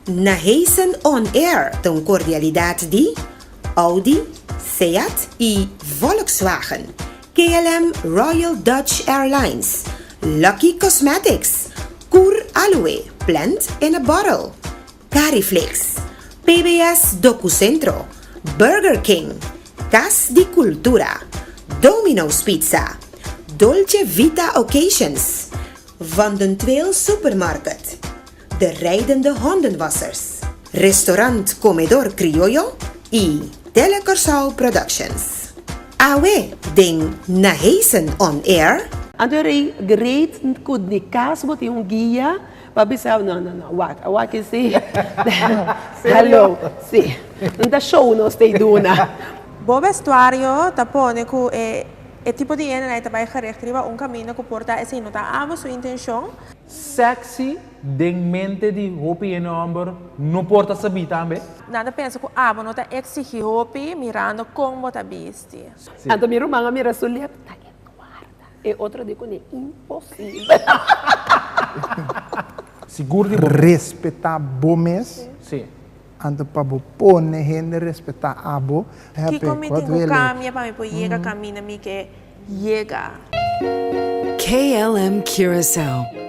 Na Heisen On Air ta un kordialidat di, Audi, Seat i Volkswagen, KLM Royal Dutch Airlines, Lucky Cosmetics, Kur Aloe, Plant in a Bottle, Cariflix, PBS Docucentro, Burger King, Cas di Cultura, Domino's Pizza, Dolce Vita Occasions, Van den Tweel Supermarket, De Rijdende Hondenwassers, Restaurant Comedor Criollo y Tele Curaçao Productions. Awe den Naheisen On Air. Anto e rei gereed cu di cas bo tin un guia. Pa bisao no no no wak a wak e si Serio? si no ta show nos ta e duna. Bo vestuario ta pone cu e e tipo di hende na e ta bay gericht riba un camino cu por ta esey no ta abo su intencion. Sexy den mente di hopi hende homber no por ta sabi tambe. Nan ta pensa cu abo no ta exigi hopi mirando con bo ta bisti. Anto mi ruman a mira su lep ta e noar. E otro di kuné imposibel. Sigur di bo mes. Respetá bo mes. Sí. Anto pa bo pone hende respetá abo. Kiko mi tin ku kambia pa mi por yega kaminda mi ke yega? KLM Curaçao.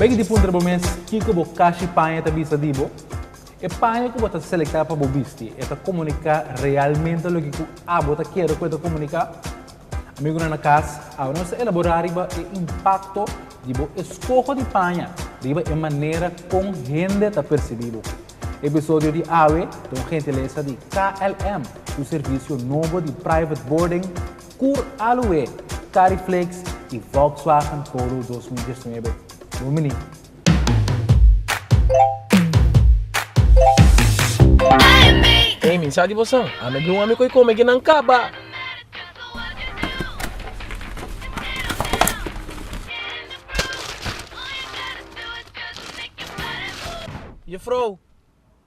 Bay di puntra bo mes kiko bo kashi paña ta bisa di bo. E paña ku bo ta selektá pa bo bisti e ta komuniká realmente loke ku abo ta kere ku e ta komuniká? Amigunan na kas, awe nos ta elaborá riba e impakto di bo eskoho di paña riba e manera kon hende ta persibí bo. Episodio di awe ta un gentilesa di KLM, su servisio nobo di private boarding Kur Aloe, Kari Flakes i Volkswagen Polo dos mil diesnuebe. Bon bini! Ey mi sa di bo san, a mi bin un ami cu e come ki nan caba. Jefrouw.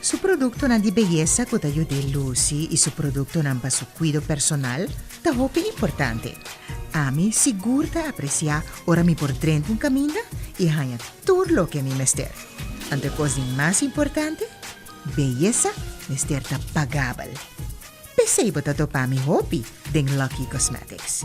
Su produktonan di beyesa ku ta yud'é lusi i su produktonan pa su kuido personal ta hopi importante. Ami sigur ta apresiá ora mi por drenta un kaminda i haña tur loke mi mester. Anto e kos di mas importante? Beyesa mester ta pagabel. P'esei bo ta topa mi hopi den Lucky Cosmetics.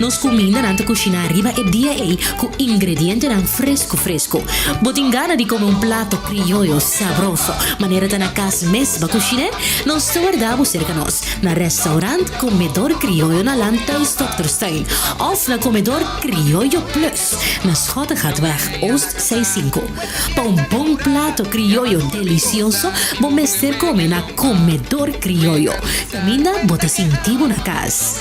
Nos kumindanan ta kushiná riba e dia ei ku ingredientenan fresku fresku. Bo tin gana di kome un plato krioyo sabroso manera ta na kas mes ba kushiné? Nos ta wardá bo serka nos na rèstaurant Komedor Krioyo na Landhuis Dokterstein òf na Komedor Krioyo Plus na Schottegatweg Oost seis sinku. Pa un bon plato krioyo delisioso bo mester kome na Komedor Krioyo. Kaminda bo ta sinti bo na kas.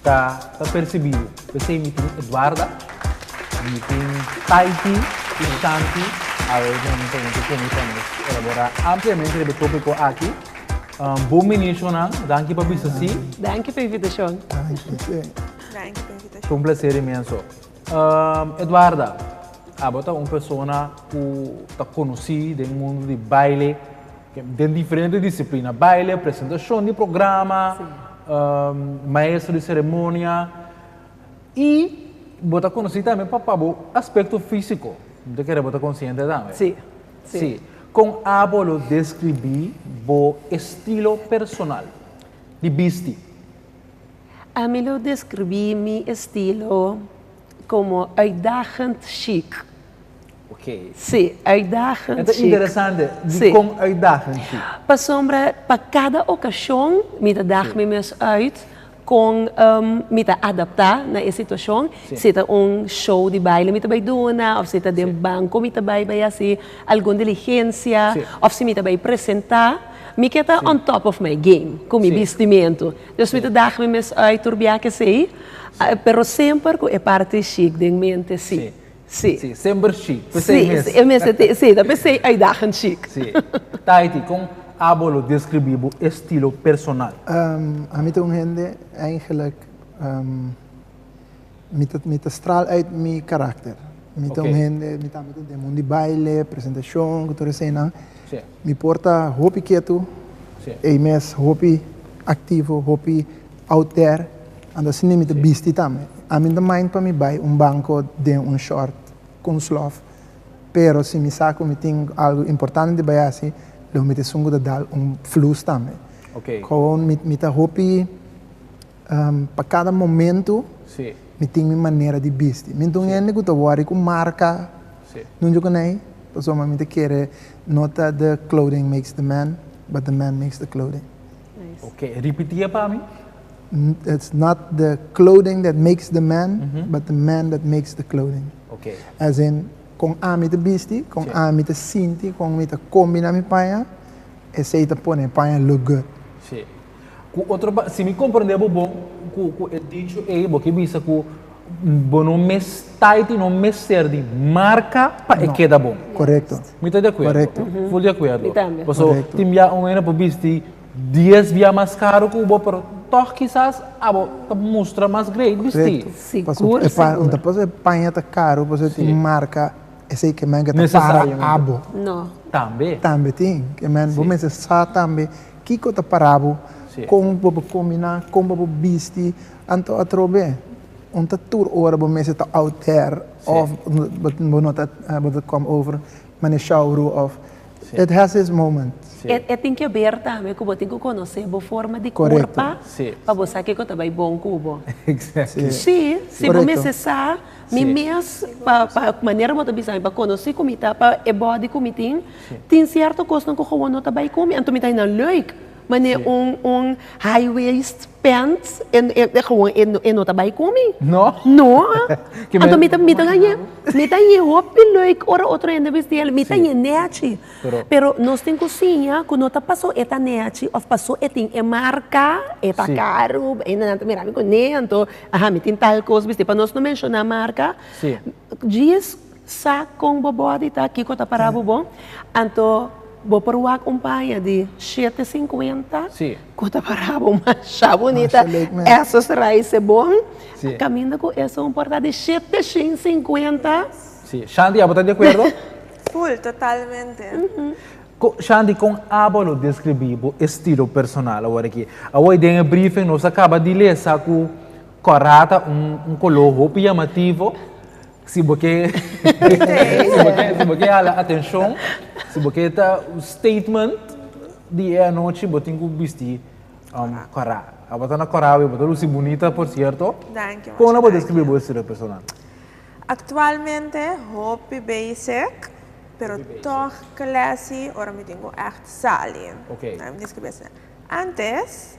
Ta ta percibido. P'esey mi tin Eduarda, mi tin Taiti y Shanti al momento ente que mi ta nos elabora ampliamente riba e topico aki. Bon benicio nan, danki pa bisa si. Danki pa invitacion. Danki pa invitacion. Ta un placer inmenso. Eduarda, abo ta un persona cu ta conoci den mundo di baile. Den diferente disiplina, baile, presentashon di programa, maestro di seremonia, i bo ta konosí tambe pa bo aspekto físiko, bo ta kere bo ta konsiente tambe. Sí, sí. Kon abo lo deskribí bo estilo personal di bisti? Ami lo deskribí mi estilo. como uitdagend chic. Okay. Sí, uitdagend chic. E ta interesante, dikon uitdagend chic? Sí. Pasobra pa cada ocasion mi ta dag mi mes uit con mi ta adapta na e situacion. Si ta un show di baile mi ta bay duna of si ta den banco mi ta bay bay haci algun diligencia of si mi ta bay presenta mi ke ta on top of my game cu mi bistimento. Dios mi ta daga mi mes ui turbiá ke esei, pero semper ku e parti shik den mente, sí. Sí. Sí, semper shik, p'esei mes. Sí, e mes e te, sí, ta p'esei uitdagend shik. Sí. Tahiti, kon abo lo deskribí bo estilo personal? Ami ta un hende, èigenlijk, Mi ta mi ta stral uit mi karakter. Mi ta un Oké. hende, mi ta mi ta den mun di baile, presentashon, ku tur esenan. Sí. Mi por ta hopi ketu, Sí. ei mes hopi aktivo, hopi out there. Anto asina mi ta Sí. bisti tambe. A mi no ta mind pa mi bai un banko den un short ku un slof, pero si mi sa ku mi tin algu importante di bai hasi, lo mi ta esun ku ta dal un flus tambe. Oké. Komo mi mi ta hopi Pa kada momentu mi tin mi manera di bisti. Mi ta un hende ku ta wòri ku marka nunde ku n'ai pasobra mi ta kere no ta the clothing makes the man but the man makes the clothing. Oke, ripiti e pa mi. It's not the clothing that makes the man but the man that makes the clothing. Oke. As in kon ami ta bisti, kon ami ta sinti, kon mi ta kombiná mi paña, esei ta pone e paña look good. Ku otro pa, si mi komprendé bo bon ku ku e dicho ei, bo ke bisa ku bo no mes taiti no mester di marka pa e keda bon. Korekto. Mi ta di akuerdo. Correcto. Full di akuerdo. Mi tambe. Paso Correcto. tin bia un hende por bisti dies bia mas karu ku bo, pero tòg kisas abo ta mustra mas great bisti. Correcto. Paso Sigur, e pa, sigur. no ta paso e paña ta karu, paso e tin Sí. marka, esei ke men ke ta para Necesariamente. abo. No. Tambe. Tambe tin. Ke men, bo Sí. mester sa tambe Kiko ta para bo? Kon bo por kombiná? Kon bo por bisti? Anto atrobe un ta tur ora bo mester ta out there òf bo no ta bo ta kòm over Meneer Shaurou òf it has its moment. E tin ke ber tambe ku bo tin ku konosé bo forma di kurpa pa bo sa kiko ta bai bon ku bo. Sí, si bo mester sa mi mes pa manera bo ta bisa mi pa konosí ku mi ta pa e bòdi ku mi tin. Tin sierto cosnan cu gewoon no ta bay cu mi. Anto mi ta hina leuk, mane un high waist pants gewoon e no ta bay cu mi. No? No. Anto mi ta hina hopi leuk ora otro hende bisti el. Mi ta hina nechi. Pero nos tin cosiña cu no ta paso e ta nechi of paso e tin e marca, e ta caro. Hende nan ta mira mi cu nee anto mi tin tal cos bisti. Pa nos no menciona marca. Djis sa kon bo body ta, kiko ta para bo bon. Anto bo por wak un paña di shete sinkuenta ku ta para bo masha bunita. Esos raise bon. Kaminda ku eso un por ta di shete shin sinkuenta. Shanti, abo ta di akuerdo? Full, totalmente. Shanti, kon abo lo deskribí bo estilo personal awor aki? Awor den e briefen nos a kaba di lesa ku. Cora ta un un color hopi llamativo si bo ke si bo ke hala atencion si bo ke ta un statement di e anochi bo tin cu bisti um cora a bo ta na cora awe bo ta luci bunita por cierto con a bo describi bo estilo personal. Actualmente hopi basic pero toch classy ora mi tin cu echt sali nan mi describi asina antes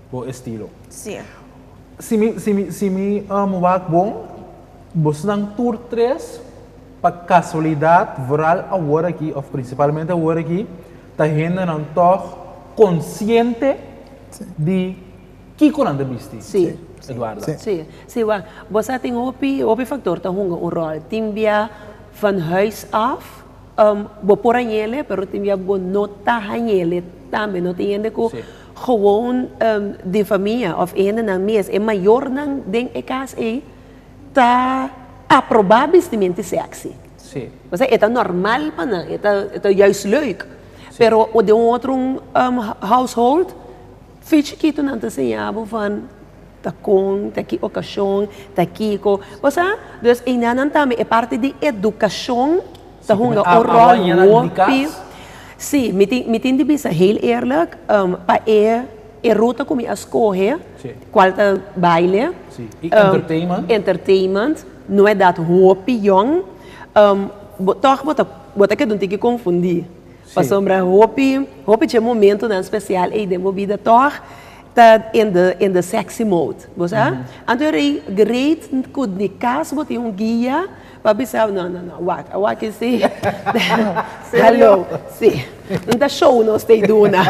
Bo estilo. Sí. Si mi si mi si mi um wak bon bosnan tur tres pa casualidad vooral awor aki of principalmente awor aki ta hendenan tog consciente di kico nan ta bisti. Sí. Sí. Eduarda. Sí. Sí. Sí wak bo sa tin hopi hopi factor ta hunga un rol tin bia van huis af um bo por hañele pero tin bia bo no ta hañele tambe no tin hende cu. Sí. Gewoon di famia of hendenan mes, e mayornan den e cas ei, ta aproba bistimenti sexy. Osea, e ta normal pa nan, e ta juist leuk. Pero den un otro household, fin chikitonan ta siña bo van, ta kon, ta ki ocasion, ta kiko. Bo sa? Dus einanan tambe, e parti di educacion Ta hunga un rol hopi. Sí, mi tin, mi tin di bisa heel eerlijk, pa e, e ruta ku mi a skohe, kual ta baile, entertainment, no e dat hopi yòn. Bo tòg bo ta, bo ta keda un tiki konfundí. Pasobra hopi, hopi dje momentunan spesial ei den bo bida tòg ta in de, in de sexy mode, bo sa. Anto e rei great ku di kas bo tin un guia Pa bisao, no, no, no, wak, a wak e si. Hallo, si. No ta show nos ta e duna.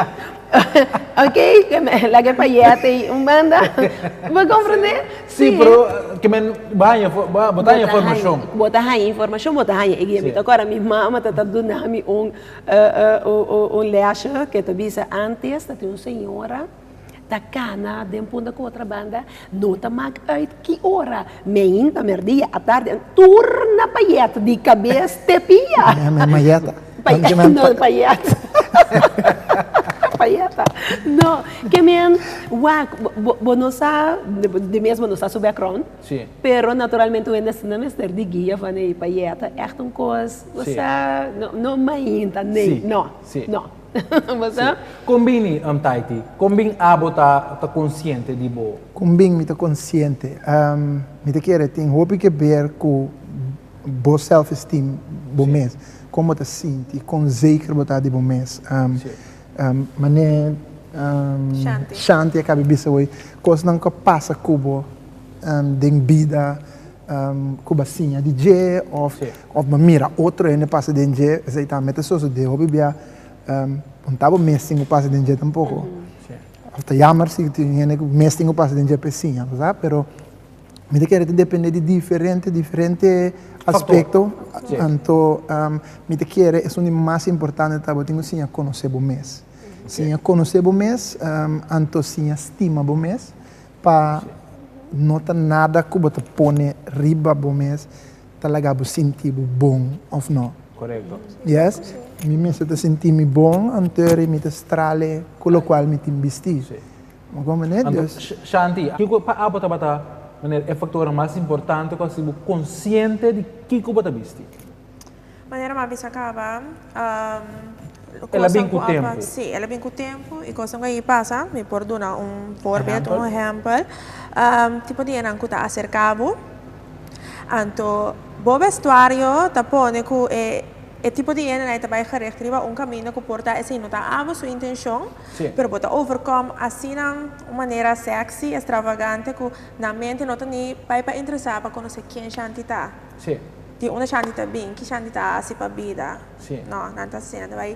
Ok, laga e payèt ei un banda. Bo komprendé? Si, pero ke men, bo haña, bo ta haña informashon. Bo ta haña informashon, bo ta haña e guia. Mi ta kòrda mi mama ta ta duna mi un un lèshon ke ta bisa, Antes ta tin un señora, Ta cana den punta cu otra banda no ta maak uit ki ora, meinta, merdia, atardi, a turna pa yet di cabes te pia. No pa yet. No, ke men wak, bo no sa, di mes bo no sa su background, pero naturalmente un hende asina mester di guia van ei pa yet ta echt un cos, bo sa, no, no meinta, nee, no, no. Basta? Kon bin ni, oom Taiti? Kon bin abo ta ta konsiente di bo? Kon bin mi ta konsiente? Ehm, mi ta kere tin hopi ke ber ku bo self-esteem, bo mes. Kon bo ta sinti, kon zeker bo ta di bo mes. Ehm, ehm, manera, ehm, Shanti a kabe bisa hoy, kosnan ku a pasa ku bo, ehm, den bida. cu bo a siña di dje of bo a mira otro hende pasa den dje, esey tambe ta sosode hopi bia, bo no ta bo mes tin cu pasa den dje tampoco, of ta yamer si tin hende cu mes tin cu pasa den dje pa e siña bo sa, pero mi ta kere ta depende di diferente diferente aspecto, anto mi ta kere esun di mas importante ta bo tin cu siña conoce bo mes, siña conoce bo mes, anto siña stima bo mes, Pa no ta nada ku bo ta pone riba bo mes ta laga bo sinti bo bon, òf no? Korekto. Yes. Mi mester ta sinti mi bon anter di mi ta strale ku lokual mi tin bisti. Bo komprende'e? Anto, Dus. Shanti, kiko ku pa'a bo tabata manera e faktornan mas importante ku hasi bo konsiente di kiko bo ta bisti? Manera mami sa caba El a bin cu tempo. Sí, el a bin cu tempo y cosnan cu a pasa, mi por duna un voorbeeld, un ehempel. Tipo di enan cu ta acerca bo, anto bo vestuario ta pone cu e e tipo di hende na ta bay gericht riba un camino cu por ta asina, no ta abo su intencion, Sí. pero bo ta overcome asina un manera sexy, extravagante cu nan mente no ta ni bay pa interesa pa conoce ken shanti ta. Sí. Tin unda Shanti ta bin? Ki Shanti ta hasi pa bida? Sí. No, nan ta hasi, nan ta bai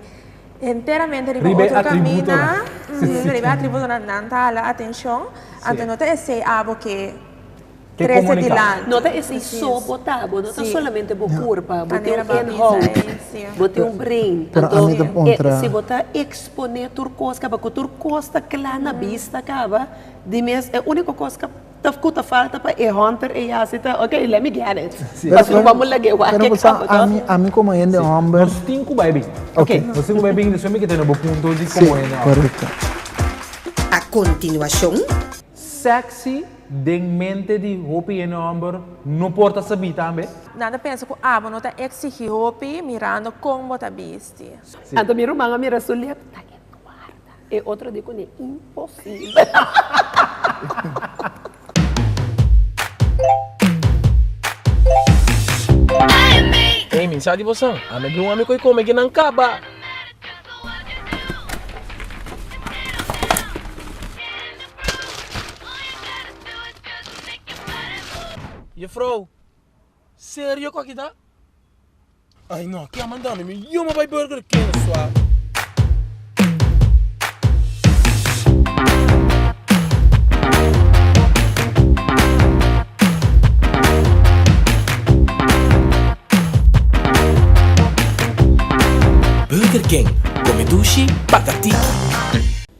enteramente riba Riba e otro atributonan. caminda. Mhm, riba e atributonan nan ta hala atencion. Sí. Anto no ta esey abo ke Ke trece comunica. dilanti. No ta esey Precies. so bo ta, bo no ta Sí. solamente bo Ja. curpa, bo tin Manera un bo a bisa inhoud, ei, sí. bo tin un brain. Pero Anto, ami ta e, puntra. si bo ta expone tur cos caba, cu tur cos ta cla na bista caba, di mes e unico cos ca. Ta cu ta falta pa e hunter e yasi ta ok let me get it pa su wak mo laga e wak ke kaba ta. Ami ami como hende homber. Nos tin cu bai bin. Ok nos tin cu bai bin entonces mi ke tene bo punto di como hende homber. A continuacion. Sexy den mente di hopi hende homber no por ta sabi tambe. Nan ta pensa cu abo no ta exigi hopi mirando con bo ta bisti. Anto mi ruman a mira su lep ta e guarda. E otro dia con e imposible. Ey mi sa di bo san. Ami a bin un ami cu a come aquí nan caba. Jufrouw, serio cu aki ta? Ay no, aki a manda mi, mi yuma bay Burger King suav. Burger King, come dushi, paga ti.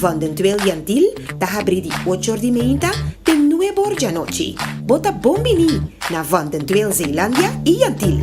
Van den Trail Yantil ta habri di ocho or di meinta te nuebe or di anochi. Bo ta bon biní na Van den Trail Zeelandia i Yantil!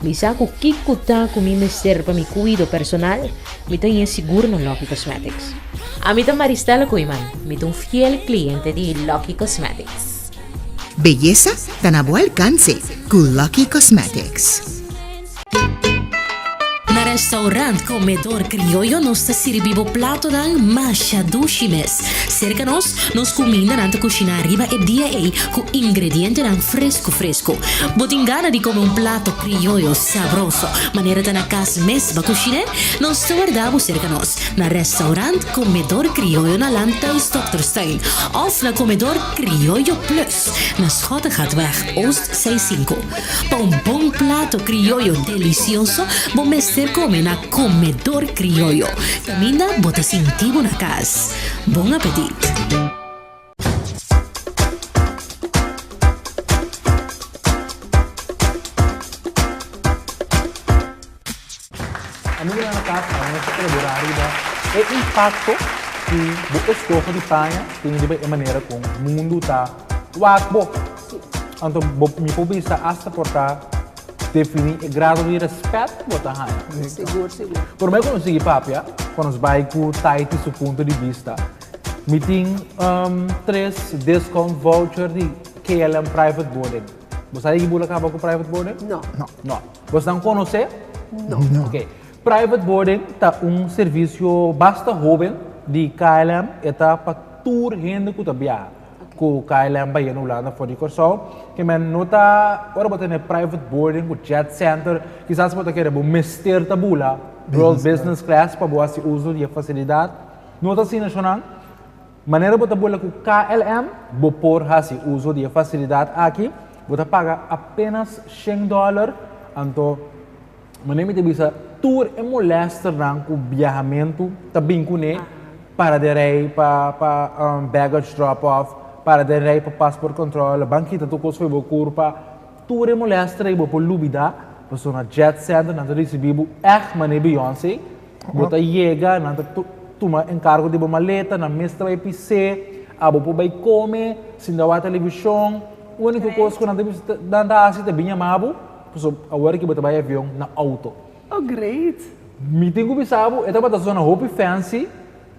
Mi sa ku kiko ta ku mi mester pa mi kuido personal, mi ta yen sigur na Lucky Cosmetics. Ami ta Maristela Koeman, mi ta un fiel kliente di Lucky Cosmetics. Beyesa ta na bo alkanse ku Lucky Cosmetics. Na Restaurant Comedor Criollo nos ta sirbi bo platonan masha dushi mes. Serka nos Nos kumindanan ta kushiná riba e dia ei ku ingredientenan fresku fresku. Bo tin gana di kome un plato krioyo sabroso manera ta na kas mes ba kushiné? Nos ta wardá bo serka nos na rèstaurant Komedor Krioyo na Landhuis Dòkter Steyn òf na Komedor Krioyo Plus. na Schottegaardweg Oost seis sinku. Pa un bon plato krioyo delisioso bo mester kome na Komedor Krioyo, kaminda bo ta sinti bo na kas. Bon apetit! Amigonan na kas, awe nos ta elabora riba e impakto ku bo eskoho di paña tene riba e manera ku mundu ta wak bo. Anto bo mi por bisa asta por ta definí e grado di rèspèt ku bo ta haña. Sigur, sigur. Pero mi a konosí i papia ku nos bai ku Taiti su punto di bista. Mi tin tres discount voucher di KLM Private Boarding. Bo sabi di ki bo lo kaba ku private boarding? No. No. Bo esnan konos'é? No. Ok. Private boarding ta un servisio basta hoben di KLM, e ta pa tur hende ku ta biaha ku KLM baie na Hulanda for di Kòrsou. Kemen no ta, ora bo tene private boarding ku Jet Center, kisas bo ta kere, bo mester ta bula World Business Class pa bo hasi uso di e fasilidat. No ta asina, Shonan. Manera bo ta bula ku KLM, bo por hasi uso di e fasilidat aki. Bo ta paga apénas shen dòler. Anto manera mi ta bisa tur e molèsternan ku biahamentu ta bin kuné, para den rei pa baggage drop-off, para den rei pa passport control, lo ban kita tur kos fo'i bo kurpa. Tur e molestra i bo por lubida paso na Jet Center nan ta risibi bo echt mane Beyonce. Bo ta yega, nan ta tuma enkargo di bo maleta, nan mes ta bai pis'é, abo por bai kome sin ta wak televishon. Uniko kos ku nan ta hasi ta bin yama bo, paso awor aki bo ta bai avion, na outo. Oh great! Mi tin ku bisa bo, e tabata zona hopi fancy,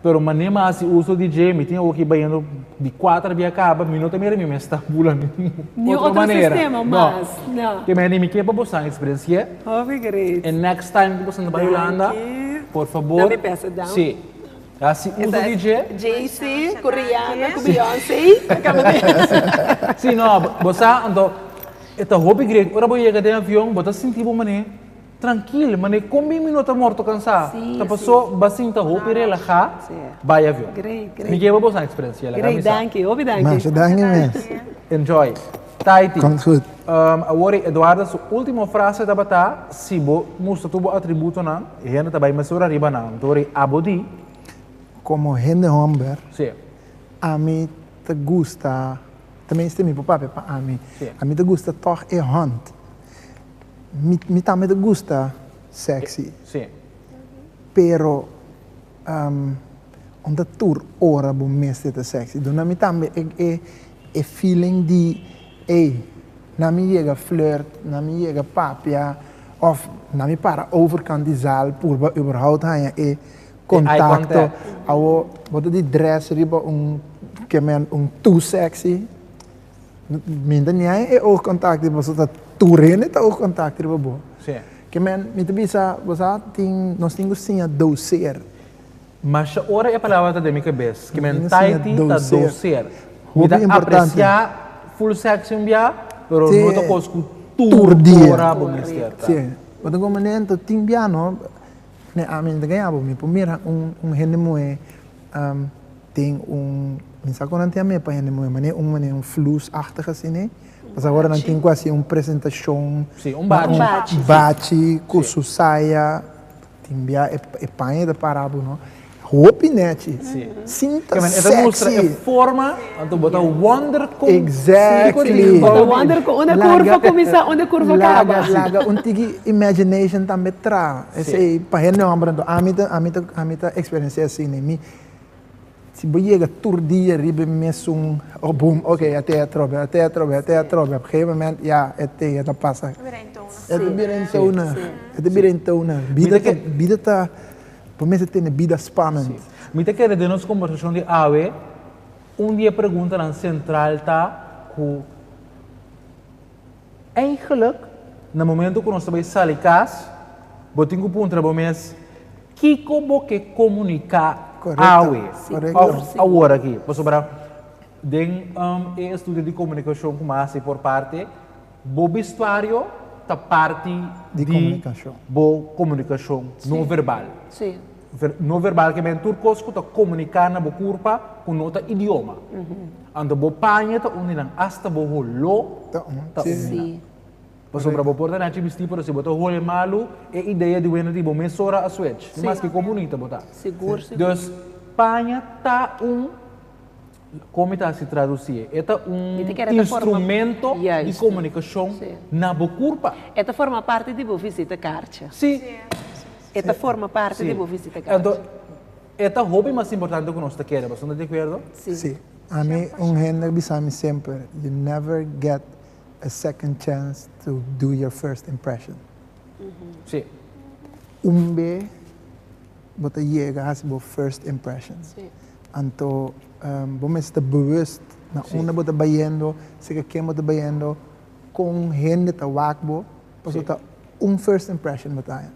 Pero mané m'a hasi uso di dje, mi tin awo ki bañando di kuater a bia kaba, mi no ta mira mi mes ta bula mi tin Niun otro otro manera. sistema No. mas, no. Ke meni mi ke pa bosan eksperensié. Hopi gret. E next time ku bosan ta bai Danki. Hulanda, por fabor, Dame bèsa, Dam. si, hasi uso di dje. JC ku Rihanna ku Beyoncé. Si, no, bo sa, anto e ta hopi gret. Ora bo yega den avion, bo ta sinti bo mané. Trankil, mané kon bin mi no ta morto kansá? Ta pasó ba sinta hopi relahá bai avion. Mi ke ba bosan eksperensia el a kamisa. Masha danki mes. Enjoy. Taiti, awor ei Eduarda su ultimo frase tabata, Si bo mustra tur bo atributonan, e hende ta bai mesora riba nan. Anto awor ei abo di. Komo hende hòmber, ami ta gusta, ta mester mi por papia pa ami, ami ta gusta tòg e hònt. Mi mi tambe ta gusta sexy. E, sí. Pero ehm aun ta tur ora bo mester ta sexy. Duna mi tambe e e e feeling di ey na mi yega flirt, na mi yega papia of na mi para overkant di zaal purba überhaupt haña e contacto. Awor bo ta di dress riba un, ke men, un too sexy. Mi ta niae e oog contact di boso ta tur hende ta oog contact riba bo. Sí. Ke men mi ta bisa bo sa tin nos tin ku siña doseer. Masha ora e palabra ta den mi kabes ke men taiti ta doseer. Mi ta apresia full section bia pero no ta kos ku tur ora bo mester ta. Sí. Bo ta komandanto tin bia no ne ami no ta kaña bo mi por mira un hende moe. tin un, mi sa kon nan tin a mepa hende moe mane un mane un flus achtig asine, pas ahora nan tin ku hasi un presentashon, Sí, un bachi. Un bachi. bachi ku Sí. su saya, tin bia e e paña e ta para bo no, hopi nechi, Sí. sinta Kieman e ta mustra e sexy. forma, anto bo ta wonder kon siriko Exactly. tin Bo ta bou di. wonder kon unda Laga- kurva kuminsá, unda kurva laga- kaba. Laga un tiki imagination tambe tra, Sí. esei pa hende hòmber anto, ami ta ami ta ami ta eksperensiá asine, mi. Si bo yega tur dia riba e mesun oh boom, ok, e ate a trobe, e ate a trobe, e ate a trobe, op gegeven moment ya e ate ya ta pasa. Ta bira hintou na. E ta bira hintou na, e ta bira hintou na. Bida ta, bida ta, bo mester tene bida spanend. Mi ta kere den nos kombersashon di awe, un di e preguntanan sentral ta ku. Eigenlijk, na momento ku nos ta bai sali kas, bo tin ku puntra bo mes, Kiko bo ke komuniká awe òf awor aki? Pasobra den e estudio di komunikashon ku mi a hasi por parti, bo bestuario ta parti di bo komunikashon no verbal. No verbal ke tur kos ku ta komuniká na bo kurpa ku no ta idioma. Anto bo paña ta uni nan, asta bo holó ta uni nan. Pasobra bo por ta nachi bistí, pero si bo ta hole malu, e idea di wenda di bo mesora a swech, dimaske kon bunita bo ta. Dus, paña ta un. Kon mi ta hasi tradusi e? E ta un instrumento di komunikashon na bo kurpa. E ta forma parti di bo visita karcha. Si. E ta forma parti di bo visita karcha. Enton, e ta hopi mas importante ku nos ta kere. Pasobra nos ta di akuerdo? Si. Ami un hende bisami semper, you never get a second chance to do your first impression. Si. Un be. bo ta yega hasi bo first impressions. Anto bo mester bewust na unda bo ta bayendo, seka ken bo ta bayendo, kon hende ta wak bo, pasobra ta un first impression bo ta haña.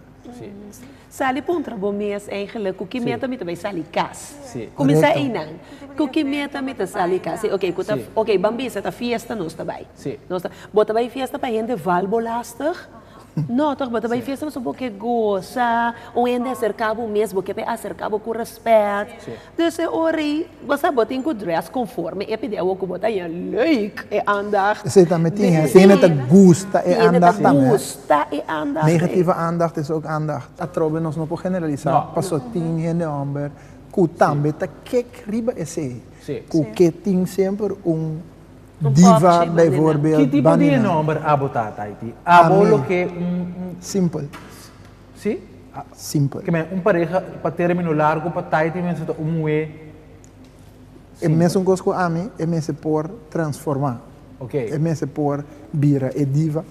Sali puntra bo mes eigenlik ku ki meta mi ta bai sali kas. Kuminsá einan, ku ki meta mi ta sali kas? Oke, ku ta, oke, ban bisa ta fiesta nos ta bai. Bo ta bai fiesta pa hende val bo lastig? No toch, bo ta bai fiesta pasobra bo ke goza, un hende a serka bo mes, bo ke pa e aserka bo ku rèspèt. Dus e ora ei, bo sa bo tin ku drès konforme, e pidi awor ku bo ta haña leuk e andacht. Esei tambe tin hende, tin hende ta gusta e andacht tambe. Tin hende ta gusta e andacht ei. Negativa andacht es òk andacht. Atrobe nos no por generalisá paso tin hende hòmber ku tambe ta kèk riba esei, ku ke tin semper un. Diva bijvoorbeeld Ki tipo di e nomber abo ta Taiti? Abo lo ke un un Simpel. Si? Simpel. Ke men un pareha pa termino largo pa Taiti mester ta un muhé E mesun kos ku ami, e mester por transformá. Ok. E mester por bira e diva,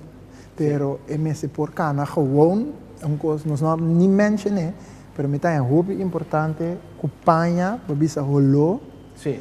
pero e mester por kana gewoon un kos nos no a ni menshoné, pero mi ta hen hopi importante ku paña pa bisa holó Si.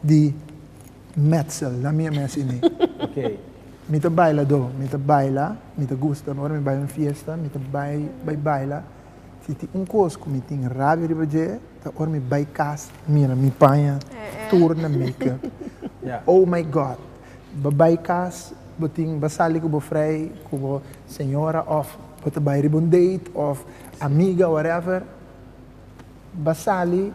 di metsel na mia mes ini okay mi ta bailadó mi ta baila mi ta gusta ora mi bai un fiesta mi ta bai bai baila si tin un kos ku mi tin rabia riba dje ta ora mi bai kas mira mi paña tur na makeup oh my god bo bai kas bo tin bo sali ku bo frei ku bo señora of bo ta bai riba un date of amiga whatever. Ba sali,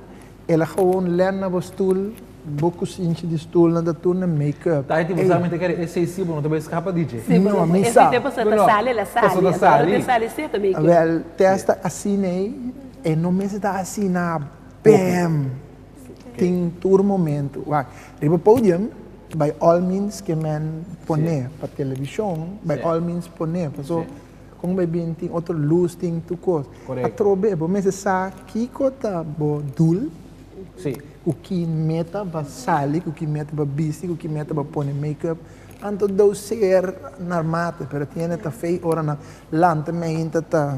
el a gewoon len na bo stoel, bo ku sinchi di stoelnan ta tur na make up. Taiti bo sa mi ta kere e sei si bo no ta bai skapa di dje. Si bo no bai si dje paso ta sali el a sali, paso ta sali, el a sali si e ta make up. Wèl Tess ta asina ei, e no mester ta asina bèm, tin tur momentu. Wak, riba podium bai al means ke men pone pa televishon, bai al means pone paso Con bo e bin tin otro luz tin tur cos. Correcto. Atrobe bo mester sa kico ta bo doel, Sí. cu ki meta bo sali, cu ki meta bo bisti, cu ki meta bo pone make up. Anto do ser narmate, pero tiene ta fey ora nan lanta mainta ta.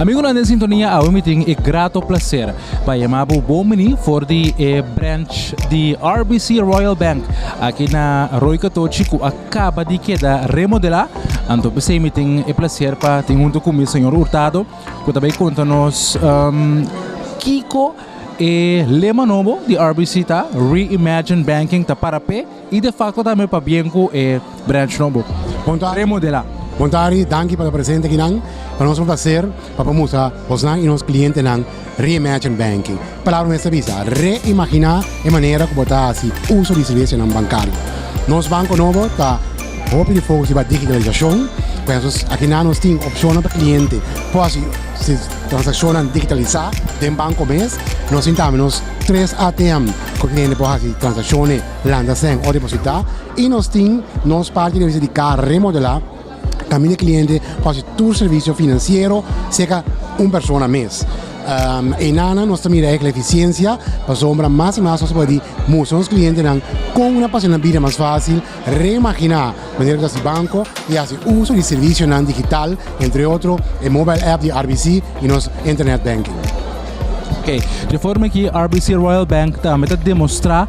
Amigonan den sintonia, awe mi tin e grato placer pa yama bo bon bini for di e branch di RBC Royal Bank aki na Rooi Katochi ku a kaba di keda remodelá, anto p'esei mi tin e plaser pa tin huntu ku mi señor Hurtado ku ta bai konta nos kiko e lema nobo di RBC ta, Reimagine Banking, ta para p'e i de fakto tambe pa bien ku e branch nobo remodelá. Bon tardi, danki pa ta presente akinan. Pa nos un plaser pa por mustra bosnan i nos klientenan. Reimagine Banking, palabra mester bisa, reimagina e manera ku bo ta hasi uso di sirvisinan bankario. Nos banko nobo ta hopi di fokus riba digitalisashon, por esun akinan nos tin opshonnan pa kliente por hasi si transakshonnan digitalisá den banko mes. Nos tin tambe nos tres ATM ku e kliente por hasi transakshonnan, lanta sèn òf depositá i nos tin nos parti di kaha remodelá, Tambe e kliente por hasi tur servisio finansiero seka un persona mes. Einanan nos ta mira ek la efisiensia pasobra mas i mas nos ta por di mustra nos klientenan kon nan por hasi nan bida mas fásil, reimaginá manera ku ta hasi banko i hasi uso di servisionan digital, entre otro e mobile app di RBC i nos internet banking. Oke, dje forma aki RBC Royal Bank tambe ta demostrá.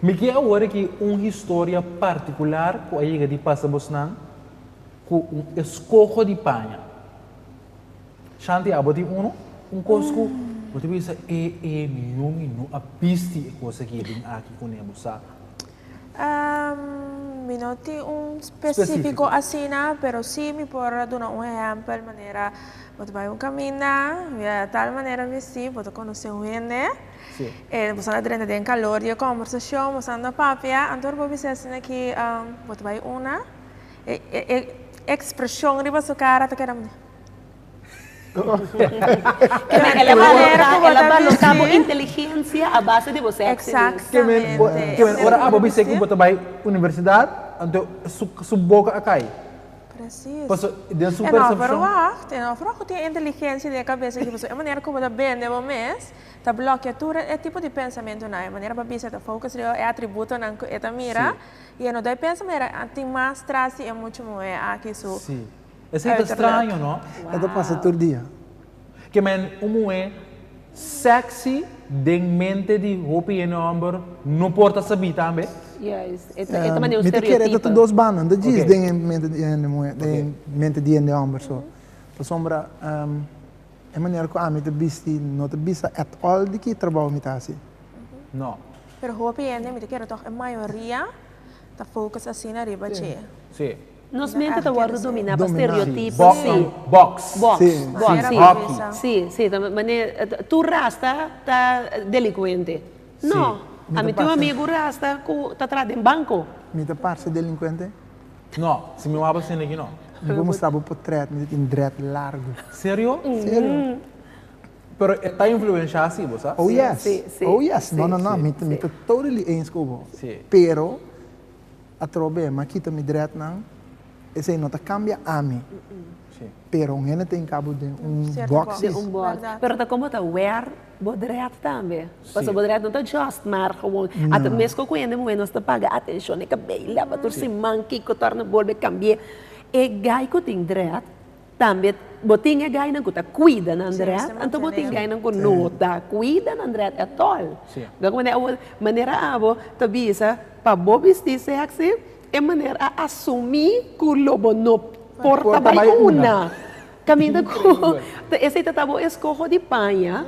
Mi kier awor aki un historia particular cu a yega di pasa bosnan cu un escoho di paña. Shanti, abo tin uno? Un cos cu bo ta bisa, eh, eh, mi yu, mi no a bisti e cos aki den aki cu ne bo sa. Ehm, mi no tin un specifico asina, pero si mi por a duna un ehempel manera bo ta bai un caminda, mi a tal manera vesti, bo ta conoce un hende, sí. e boso a drenta den calor di e conversacion, boso anda papia, anto ora bo bisa asina ki um, bo ta bai una, e, e, e expresion riba su cara ta keda mene. inteligencia a base di bo sexy mes. Ke men ke men ora abo bisé ku bo ta bai universidad anto su su boka a kai. Paso den su percepcion. E no for wak ku tin inteligencia den e kabes di bo paso e manera ku bo ta bende bo mes ta blokia tur e tipo di pensamentunan e manera bo bisa e ta focus riba e atributonan ku e ta mira i e no dai pensa manera tin mas tras di e muchu muhé aki su Esei ta straño no. E ta pasa tur dia. Ke men un muhé sexy den mente di hopi hende homber no por ta sabí tambe? Mi ta kere e ta tur dos banda, no ta djis den mente di hende muhé, den mente di hende homber so. Pasobra e manera ku ami ta bisti no ta bisa at all di ki trabou mi ta hasi. No. Pero hopi hende, mi ta kere tog e mayoria, ta focus asina riba dje. Si. Nos mente ta wòrdu dominá pa stereotipo, sí. Bòks, bòks, sí, sí, hòki. Sí, sí, ta manera tur rasta ta delinkuente. No, ami tin un amigu rasta ku ta traha den banko. Mi ta parse delinkuente? No, si mi wak basende aki no. Mi por mustra bo potrèt, mi ta tin drèt largu. Serio? Serio. Pero e ta influenshá asi bo, sa? Oh yes, oh yes, no, no, no, mi ta totally eens ku bo. Pero Atrobe, m'a kita mi dretnan, esei no ta kambia ami. Pero un hende ta in kabo den un bòksis. Pero ta komo ta wèr bo dret tambe. Pasobra bo dret no ta just mar gewoon. At meskos ku hende muhé nos ta paga atenshon na kabei, laba tur siman, kiko torna bolbe kambi'é. E gai ku tin dret. Tambe bo tin e gainan ku ta kuida nan dret, anto bo tin gainan ku no ta kuida nan dret etol. Dor manera awor, manera abo ta bisa pa bo bisti sèksi, e manera a asumí ku lo bo no por ta bai una. Kaminda ku esei ta bo eskoho di paña,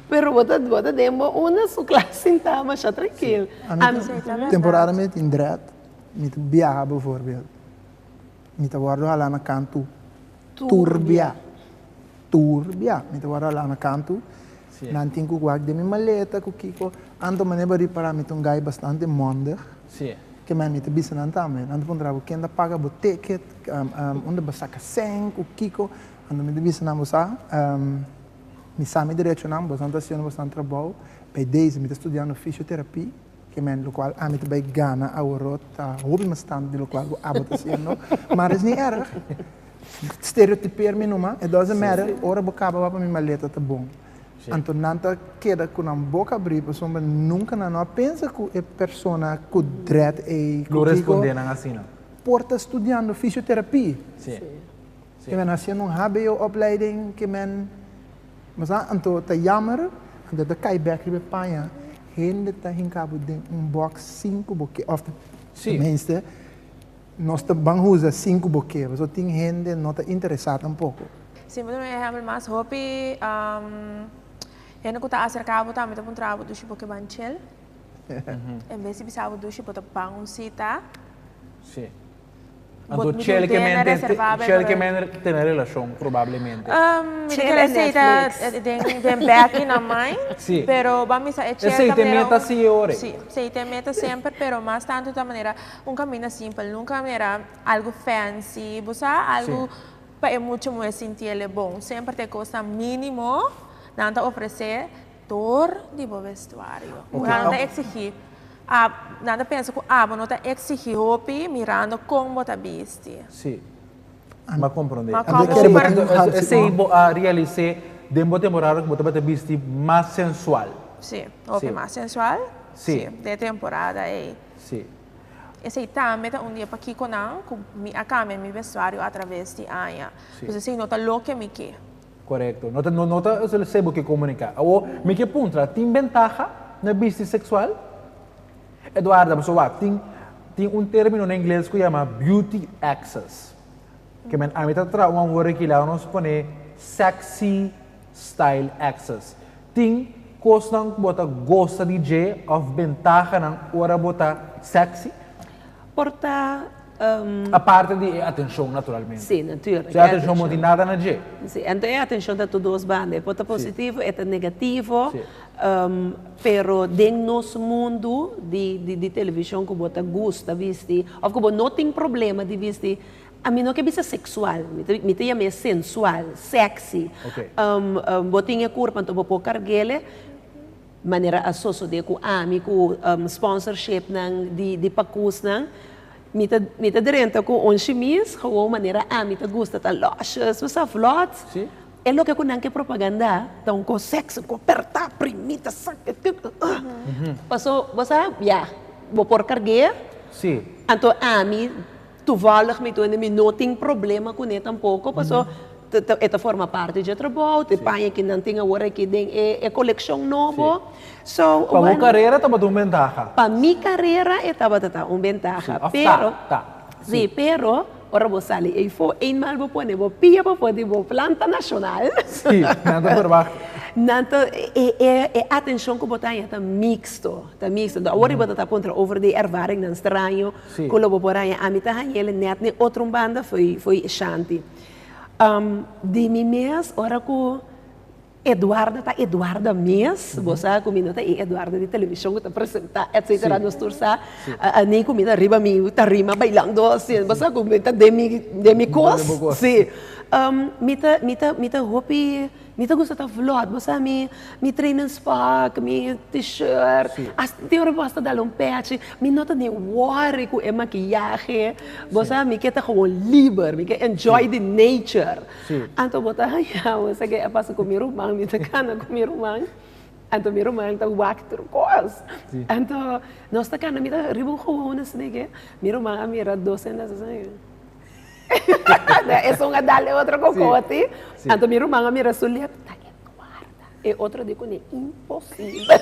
pero bo ta bo ta den bo una su klas sintá masha trankil. Temporada mi tin dret, mi ta biaha bivoorbeeld. Mi ta wordo hala na kantu turbia, turbia, mi ta wordo hala na kantu, nan tin ku wak den mi maleta ku kiko, anto mane bo riba para mi ta un gai bastante mondig, ke men mi ta bisa nan tambe, nan ta puntra bo ken ta paga bo ticket, unda bo saka sèn ku kiko, anto mi ta bisa nan bo sa, mi sa mi derechonan, bosnan ta hasiendo bosnan trabou, p'e desi mi ta studiando fisioterapi. Ke men lokual ami ta bai gana awor ta hopi mas tantu di lokual ku abo ta hasiendo. Mara es ni erg. Stereotiper mi numa. E doesn't matter. Ora bo kaba wak pa mi maleta ta bon. Anto nan ta keda ku nan boka abri pasobra nunka nan no a pensa ku e persona ku dread ei ku kiko por ta studiando fisioterapia. Si men a hasiendo un hbo opleiding ki men mes a anto ta yamer anto ta kai bek riba e paña hende ta hinka bo den un box sinku bo ke of tenminste nos ta ban usa sinku bo ke paso tin hende no ta interesa tampoko. Si bo ta duna ehempel mas hopi hende ku ta aserka bo tambe ta puntra abo dushi bo ke ban chel en bes di bisa bo dushi bo ta ban un sita. Anto Bot mi chel dunte na kemente reservá be chel por el. kemente tene relashon probablemente. Um, mi Checa den den aceite Netflix. den den beki na mai, Sí. pero ba misa e chel Aceite ta manera me ta un- sí ore. Sí, aceite me ta semper pero mas tanto ta manera un caminda simpel, nunca manera algo fancy, bo sa, algo Sí. pa e mucha muhé sintié le bon, semper ta e cos tan mínimo nan ta ofrecé. Dor di bo vestuario. Mirando ta exigi. Nan ta pensa ku abo no ta exigi hopi mirando kon bo ta bisti. Sí. Ami a komprondé. Ma komo bo por. Esei bo a realis'é den bo temporada ku bo tabata bisti mas sensual. Sí, hopi mas sensual. Sí. Den e temporada ei. Sí. Esei tambe ta un di e pakikonan ku mi a kambia mi vestuario atraves di aña. Pues esei no ta loke mi ke. Korekto. No ta no no ta se bo ke komuniká. Awor, mi ke puntra, tin bentaha na bisti seksual? Eduarda, pasobra wak, tin tin un término na ingles ku yama beauty access. Ke men ami ta traha un awor aki lado nos pone sexy style access. Tin kosnan ku bo ta gosa di dje òf bentahanan ora bo ta sexy? Por ta. A parte di e atencion naturalmente. Si, natuur. Su atencion no tin nada na dje. Si, ento e atencion ta tur dos banda. E por ta positivo, e ta negativo. Pero den nos mundo di television cu bo ta gusta bisti of cu bo no tin problema di bisti, a mi no ke bisa sexual, mi ta yama e sensual, sexy. Bo tin e curpa, enton bo por cargele. Manera a sosode ku ami ku sponsorshipnan di pakusnan, mi ta drenta ku un shimis gewoon manera ami ta gusta ta lòsjes, bo sa vlòt. E loke ku nan ke propagandá ta un kos sèksi, un kos apertá, primí, ta sangre tur, paso bo sa ya bo por karg'é, anto ami. Tuvallig mi duende mi no tin problema cu ne tampoco paso e ta forma parti dje trabao, e paña ki nan tin awor aki den e coleccion nobo. So, bueno. Pa bo carera tabata un bentaha? Pa mi carera e tabata ta un bentaha, pero. Of ta, ta. Sí, pero ora bo sali eyfo, eenmaal bo pone bo pia pafo di bo planta nacional. Sí, nan ta verwacht. Nan ta, e atencion cu bo ta haña ta mixto, ta mixto. Awor riba ta ta puntra over di ervaringnan straño Ku lo bo por haña ami ta hañel nèt n'e otro un banda foi e shanty. Di mi mes ora ku Eduarda ta Eduarda mes, bo sa ku mi no ta e Eduarda di televishon ku ta presentá etsetera nos tur sa ni ku mi ta riba mi tarima bailando asin bo sa ku mi ta den mi kos si mi ta mi ta hopi. Mi ta gusta ta vlot, bo sa mi, mi trainings pak, mi t-shirt, hasta tin ora bo hasta dal un pèchi, mi no ta ni worry ku e makiyahe, bo sa mi ke ta gewoon liber, mi ke enjoy di nature, anto bo ta haña bo sa ke a pasa ku mi ruman, mi ta kana ku mi ruman, anto mi ruman ta wak tur kos, anto nos ta kana, mi ta riba un gewoon asina ke mi ruman a mira dos hendenan asina ke. Esun a dal e otro kokoti. Anto mi ruman a mira su lep, ta e kuarta. E otro di kuné, imposibel.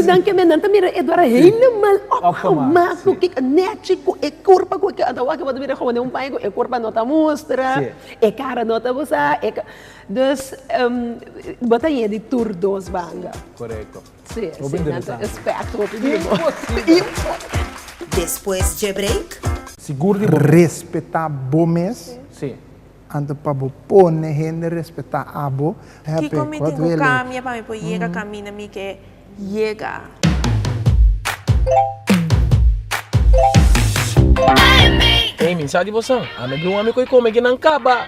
Nan kende nan ta mira Edwardo helemaal opgemaakt ku ki, nèchi ku e kurpa ku e kiba. Anto awor bo ta mira e hoende un paña ku e kurpa no ta mustra, e kara no ta busá. Dus bo ta yega di tur dos banda. Sí, sí, nan ta espèkter op bibo. Despues dje break. Sigur di bo mes. Respetá bo mes. Sí. Anto pa bo pone hende respetá abo. Kiko mi tin ku kambia pa mi por yega kaminda mi ke yega? Amy, sa di bosan? Ami a bin un ami ku e kome ke nan kaba.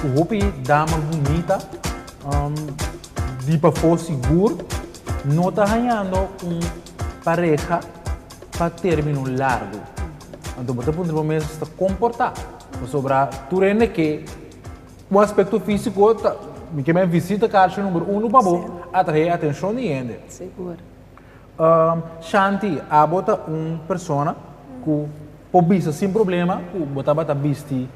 Cu hopi dama bunita di pafó sigur no ta hañando un pareha pa término largu. Anto bo ta puntra bo mes ta comportá. Pasobra tur hende ke cu aspecto físico ta, mi ke men visita carchi number uno pa bo, a trahe atencion di hende. Um, Shanti, abo ta un persona cu por bisa sin problema cu bo tabata bisti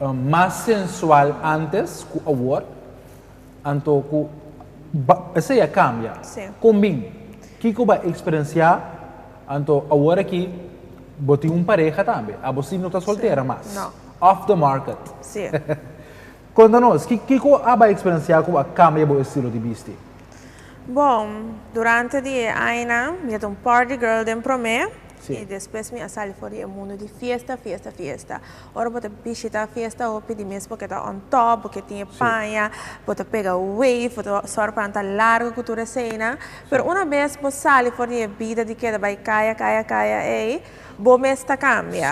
um, mas sensual antes cu awor, anto cu ba, esey a cambia. Sí. Con bin? Kico bo a experiencia? Anto awor aki bo tin un pareha tambe, abo si no ta soltera mas. No. Off the market. Sí. Konta nos, kiko a bai eksperensiá ku a kambia bo estilo di bisti? Bon, durante di e añanan mi a ta un party girl den Promé i despues mi a sali for di e mundu di fiesta, fiesta, fiesta. Ora bo ta bishitá fiesta hopi di mes bo ke ta on top, bo ke tin e paña, bo ta pega wave, bo ta sòru pa nan ta largu ku tur eseinan. Pero una bes bo sali for di e bida di keda bai kaya, kaya, kaya ei, bo mes ta kambia.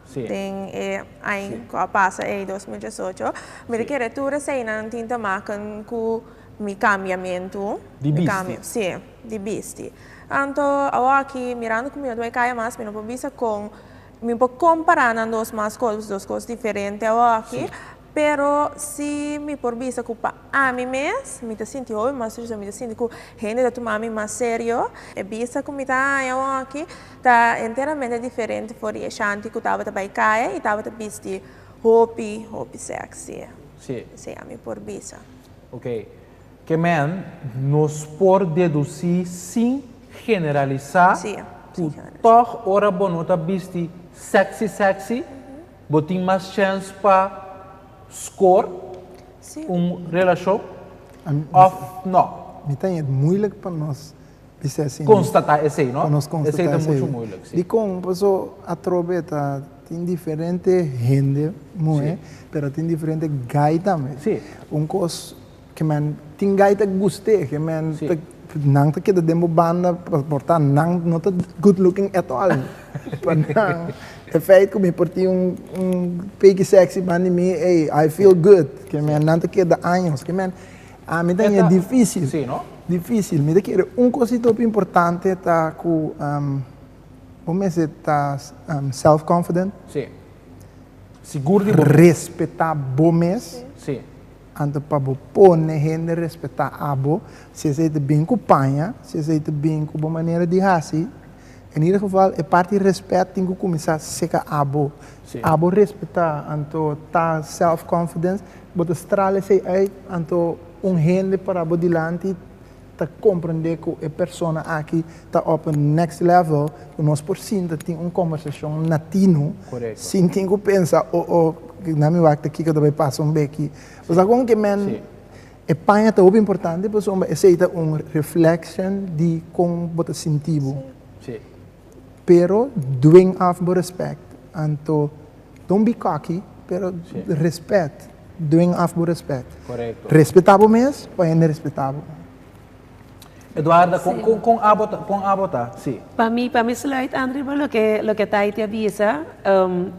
Den e aña cu a pasa ey, dos mil diesocho, mi ta kere tur e seinan tin ta maken cu mi cambiamentu, mi cambio, si, di bisti. Anto awor aki mirando cu mi no ta bay caya mas, mi no por bisa con, mi no por compara nan dos mas cos, dos cos diferente awor aki. Pero si mi por bisa ku pa ami mes, mi ta sinti hopi mas triste, mi ta sinti ku hende ta tuma mi mas serio. E bista ku mi ta haña aki ta enteramente diferente for di e shanti ku tabata bai kaya i tabata bisti hopi, hopi sèksi. Sí. Sí, ami por bisa. Ok. Ke men nos por dedusí sin generalisá ku tòg ora bo no ta bisti sèksi, sèksi, Bo tin mas chance pa score un relacion of no? Mi ta yet moeilijk pa nos bisé asin. Constata esey no? Pa nos constata esey. Esey ta mucho moeilijk si. Dicon? Paso atrobe ta tin diferente hende muhe pero a tin diferente gai tambe. Si. Un cos Ke men tin gai ta guste ke men ta nan ta keda den bo banda porta nan no ta good looking at all pa nan e feit ku mi por tin un un peki sexy ban di mi ey I feel good ke men nan ta keda años ke men ami ta e dificil dificil mi ta kere un kosita hopi importante ta ku bo mester ta self confident sigur di bo mes respeta bo mes. Anto pa bo pone hende respetá abo, si esei ta bin ku paña, si esei ta bin ku bo manera di hasi, en ieder geval e parti rèspèt tin ku kuminsá seka abo. Si abo respetá, anto ta self-confidence, bo ta strala esei uit, anto un hende para bo dilanti ta comprende cu e persona aki ta op un next level cu nos por sinta tin un conversacion natino sin tin cu pensa oh oh na mi wak ta kico ta bay pasa un beki bo sa con ke men e paña ta hopi importante pasobra esey ta un reflection di con bo ta sinti bo. Pero dwing af bo respect. Anto don't be cocky pero respet. Dwing af bo respect. Correcto. Respeta bo mes pa hende respeta bo. Eduarda con con con abo ta con abo ta si. Pa mi pa mi sluitend riba loke loke Taiti a bisa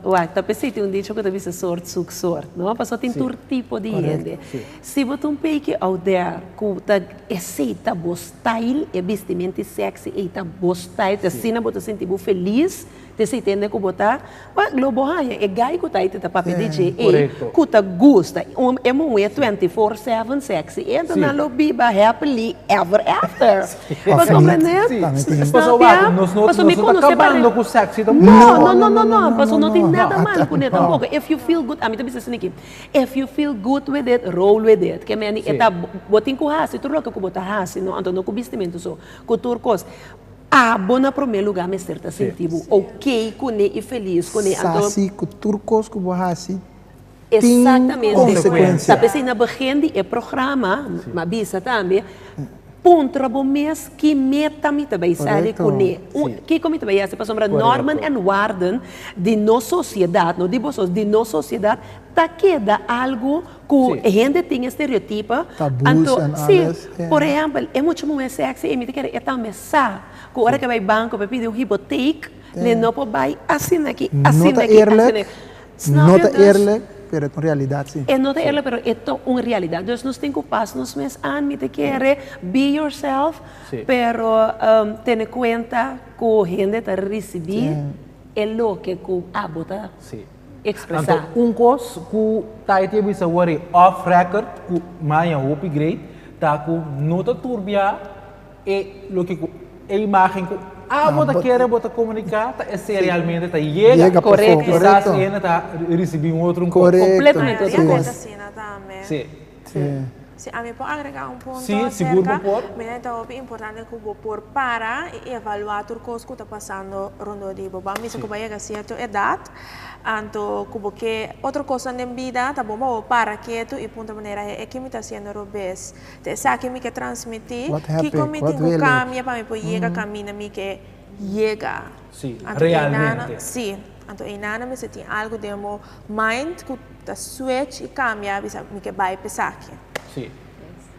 wak ta pe siti un dicho ku ta bisa sort soek sort no paso tin tur tipo di hende si bo ta un peki out there ku ta esei ta bo. style, e bistimentie sexy ei ta bo style, te asina bo ta sinti bo feliz, te sitende ku bo ta, ma lo bo haña e guy ku ta ei te ta papia di dje ei ku ta gusta e muhe twenty four seven sexy ei, anto nan lo biba happily ever after, bo komprende? Paso wak, nos no ta kabando ku sexy tampoco. No, no, no, no, no, paso no tin nada mal ku ne tampoco, if you feel good, ami ta bisa esaki. If you feel good with it, roll with it. Ke meni e ta, bo tin ku hasi tur loke ku bo ta hasi, no anto no ku bistimentu so, ku tur kos. Abo na promé lugá mester ta sinti bo ok kuné i felis kuné. Anto. Sasi ku tur kos ku bo hasi tin konsekuensia. Esaktamen. Sa pesei na begin di e programa, m'a bisa tambe, Puntra bo mes ki meta mi ta bai sali kuné. Kiko mi ta bai hasi pasobra normen en warden di nos sosiedat, no di boso, di nos sosiedat ta keda algu ku e hende tin e stereotipo. Si, por ehèmpel e mucha muhé sèksi ei mi ta kere e tambe sa ku ora ke bai banko pa pidi un hipotek, lei no por bai asina aki, asina aki, asina aki. No ta eerlijk, pero e ta un realidat si. E no ta eerlijk, pero e ta un realidat. Dus nos tin ku pas nos mes an. Mi ta kere be yourself, pero tene kuenta ku hende ta risibí e loke ku abo ta ekspresá. Anto un kos ku Taiti a bisa wor ei, off record, ku maña hopi great, ta ku no ta turbiá. E loke ku e imágen ku abo ta kere bo ta komuniká ta esei realmente ta yega. Kisas e hende ta risibí un otro un kos kompletamente otro kos. Sí. Si ami por agregá un punto aserka. Sí, sigur bo por. Mi ta hopi importante ku bo por para i evaluá tur kos ku ta pasando rondó di bo. Bou mester ku bo a yega sierto edat, anto ku bo ke otro kosnan den bida, ta bon pa bo para ketu i puntra manera, He'e ke mi ta hasiendo robes. Ta esaki mi ke transmiti, kiko mi tin ku kambia pa mi por yega kaminda mi ke yega. Sí, realmente. Sí, anto einan nan mester tin algu den bo mind ku ta switch i kambia a bisa mi ke bai p'esaki. Sí.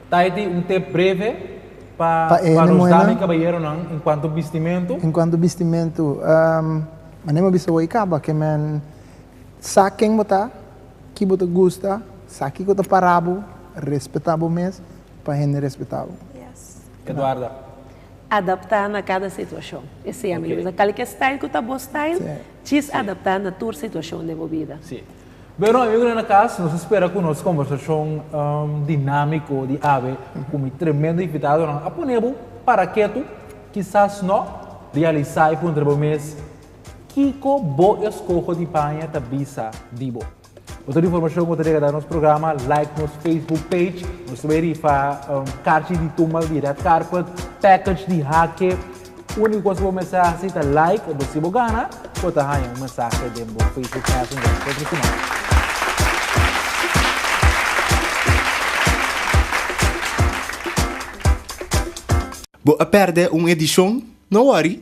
Taiti un tip breve pa pa nos dama i kabayeronan en kuanto bistimentu? En kuanto bistimentu, manera mi a bisa bo, i kaba ke men sa ken bo ta. Ki bo ta gusta, sa kiko ta para bo, respetá bo mes pa hende respetá bo. Eduarda. Adaptá na kada situashon. E sea mi lo bisa. Kalke style ku ta bo style, djis adaptá na tur situashon den bo bida. Si. Bueno, amigo den e kas, nos ta spera ku nos kòmbersashon dinámiko di awe ku mi tremendo invitadonan a pone bo para ketu, kisas nò realisá i puntra bo mes, Kiko bo eskoho di baña ta bisa di bo? Pa tur informashon ku ta dega da nos programa, like nos Facebook page. Nos ta bai rifa karchi di tumbal di red carpet, package di hake. Úniko kos ku bo mester hasi ta like, entos si bo gana bo ta haña un mensahe den bo Facebook Messenger otro siman. Bo a pèrdè un edishon? No wòri,